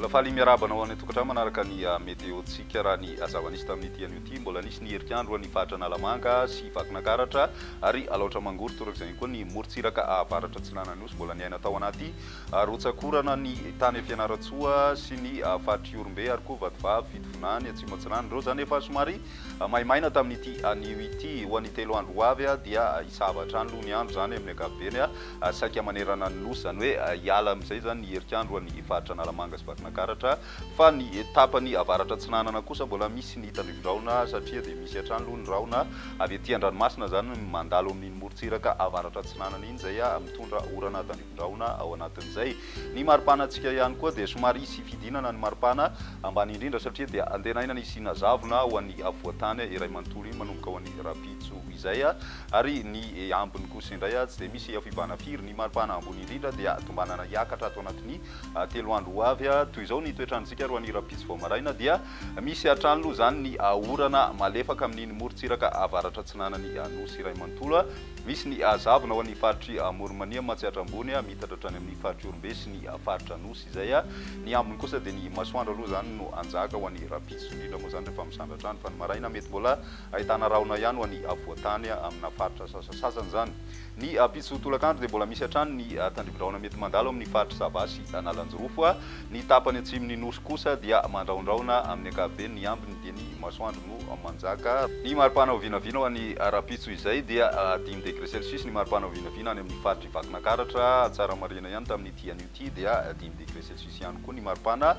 faly miarahaba anao any an-tokantrano manaraka ny ah, météo-tsika raha ny azava nisy tamin'ity anio ity mbola nisy ny herikandro any faritra analamanga sy vakinakaratra ary alaotra mangory torak'izany koa ny morontsiraka avaratra tsilana nosy mbola niaina tao anaty Rotsakorana ny tany Fianarantsoa sy ny faritr'i Ihorombe ary koa Vatovavy, Fitovinany, Atsimo Atsinanana. Ireo izany efa somary maimaina tamin'ity anio ity. Ho an'ny telo andro ho avy dia hisava hatrany aloha ny andro izany amin'ny ankapobeny saika manerana ny Nosy. Izany hoe hiala amin'izay izany ny herik'andro ho an'ny faritra Analamanga sy Vakinankaratra fa ny tapany avaratra atsinanana kosa mbola misy ny tandrifindrahona satria dia misy hatrany aloha ny rahona avy aty an-dranomasina izany mandalo amin'iny morontsiraka avaratra atsinanana iny izay mitondra orana tandrify Drahona ao anatin'izay ny maripanantsika ihany koa dia somary hisy fidinana ny maripana ambany indrindra satria dia antenaina ny hisiana zavona ho an'ny afovoan-tany iray manontolo iny manomboka ho an'ny rahampitso izay ary ny ambiny kosa indray tsy dia misy fibahana firy ny maripana ambony indrindra dia tombanana hiakatra ato anatin'ny telo andro ho avy toy izao ny toetrantsika ro an'ny rahampitso vao maraina dia misy hatrany loha izany ny orana malefaka amin'iny morontsiraka avaratra atsinanan'ny nosy iray manontolo Misy ny hazavona ao amin'ny faritr'i Moromania, Matsiatra Ambony, miitatra hatrany amin'ny faritr'i Orombe sy ny faritra Anosy izay. Ny ambiny kosa dia ny masoandro aloha izany no hanjaka ho an'ny rahampitso, indrindra moa izany rehefa misandratra andro, fa ny maraina mety mbola ahitana rahona ihany ho an'ny afovoan-tany amina faritra sasasasany izany. Ny ampitso tolakandro dia mbola misy hatrany ny tandrivi-drahona mety mandalo amin'ny faritr'i Sava sy Analanjirofo. Ny tapany atsimon'ny Nosy kosa dia mandrahondrahona amin'ny ankapobeny, ny ambiny dia ny masoandro. no manjaka. Ny mari-panao vinavina ho an'ny ara-pitso izay dia dimy degré celsius, ny mari-panao vinavina any amin'ny faritr'i Vakinankaratra, Tsaramarina ihany tamin'ity anio ity dia dimy degré celsius ihany koa ny mari-pana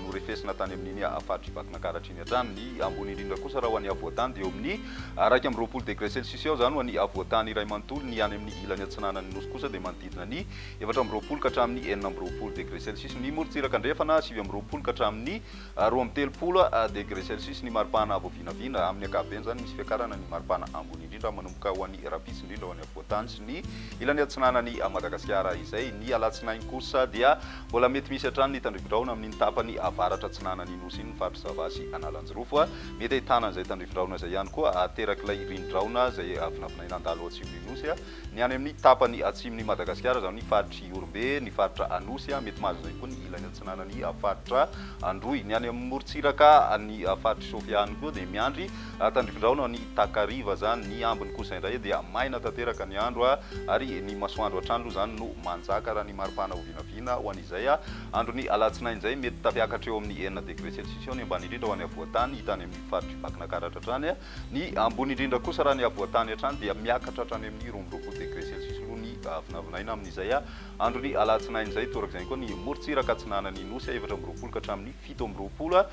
norefesina tany amin'iny faritr'i Vakinankaratra iny hatrany. Ny ambony indrindra kosa raha ho an'ny havoantany dia eo amin'ny iraika amby roapolo degré celsius eo izany ho an'ny havoantany iray manontolo, ny any amin'ny ilany atsinanan'ny Nosy kosa dia manodidina ny efatra amby roapolo ka hatramin'ny enina amby roapolo degré celsius, ny morontsiraka andrefana sivy amby roapolo ka hatramin'ny Roa amby telopolo degre celsius ny maripana voavinavina, amin'ny ankapobeny izany misy fiakarana ny maripana ambony indrindra manomboka ho any Rampitso indrindra ho any afovoan-tany sy ny ilany atsinanan'i Madagasikara izay ny alatsinainy kosa dia mbola mety misy hatrany ny tandrifindrahona amin'iny tapany avaratra atsinanan'ny Nosy iny ny faritry Zava sy Analanjirofo mety ahitana an'izay tandrifindrahona izay ihany koa aterak'ilay rinindrahona izay vinavinaina handalo ao atsimon'ny Nosy Ny any amin'ny tapany atsimon'i Madagasikara, izany ny faritr'i Ihorombe, ny faritra Anosy, mety mahazo izay koa ny ilany atsinanan'ny faritra Androy. Ny any amin'ny morontsiraka, ny faritr'i Sofia any koa dia miandry tandrifindraona ny takariva izany. Ny ambiny kosa indray dia maina tanteraka ny andro ary ny masoandro hatrany aloha izany no manjaka raha ny mari-pana ho vinavina ho an'izay andron'ny alatsinainy izay. Mety tafiakatra eo amin'ny enina degre selsisiao ny ambany indrindra ho any afovoan-tany, hita any amin'ny faritr'i Vakinakaratra hatrany Ny ambony indrindra kosa raha ny havoantany hatrany dia miakatra hatrany amin'ny roa amby roapolo degré celsius aloha ny vinavinaina amin'izay andron'ny alatsinainy izay. Toraka izany koa ny morontsiraka atsinanan'ny Nosy, efatra amby roapolo ka hatramin'ny fito amby roapolo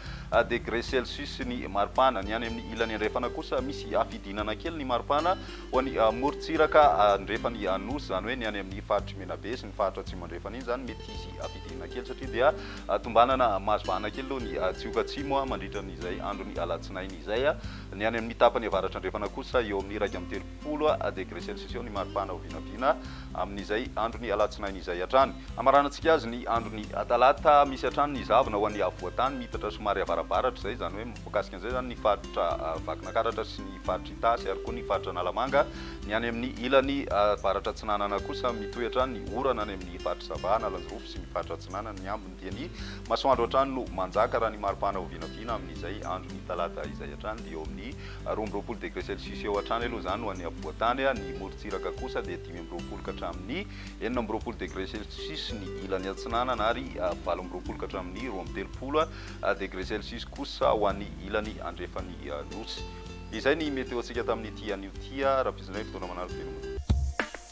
degré celsius ny maripana. Ny any amin'ny ilany andrefana kosa misy hafidinana kely ny maripana ho an'ny morontsiraka andrefan'ny Nosy, izany hoe ny any amin'ny faritry Menabe sy ny faritra atsimo andrefana iny izany mety hisy hafidinana kely satria dia tombanana mahazo vahana kely aloha ny Tsioka Atsimo mandritra ny izay andron'ny alatsinainy izay. Ny any amin'ny tapany avaratra-andrefana kosa eo amin'ny iraika amby telopolo degre celsius eo ny maripana ho vinavina amin'izay andron'ny alatsinainy izay hatrany. Hamaranantsika azy ny andron'ny talata, misy hatrany ny zavona ho an'ny afovoan-tany miitatra somary avarabaratra izay, izany hoe mikasika an'izay izany ny faritra Vakinankaratra sy ny faritra Itasy ary koa ny faritra Analamanga. Ny any amin'ny ilany avaratra-atsinanana kosa mitohy hatrany ny orana any amin'ny faritra Sava, Analanjirofo sy. sy ny faritra Atsinanana, ny ambiny dia ny masoandro hatrany no manjaka raha ny maripana ho vinavina amin'izay andron'ny talata izay hatrany dia eo amin'ny roa amby roapolo degre celsius eo hatrany aloha izany ho an'ny afovoantany, ny morontsiraka kosa dia dimy amby roapolo ka hatramin'ny enina amby roapolo degre celsius ny ilany atsinanana ary valo amby roapolo ka hatramin'ny roa amby telopolo degre celsius kosa ho an'ny ilany andrefan'ny nosy. Izay ny météo-ntsika tamin'ity anio ity, Rapizindrainy Fotoana Manara Veloma.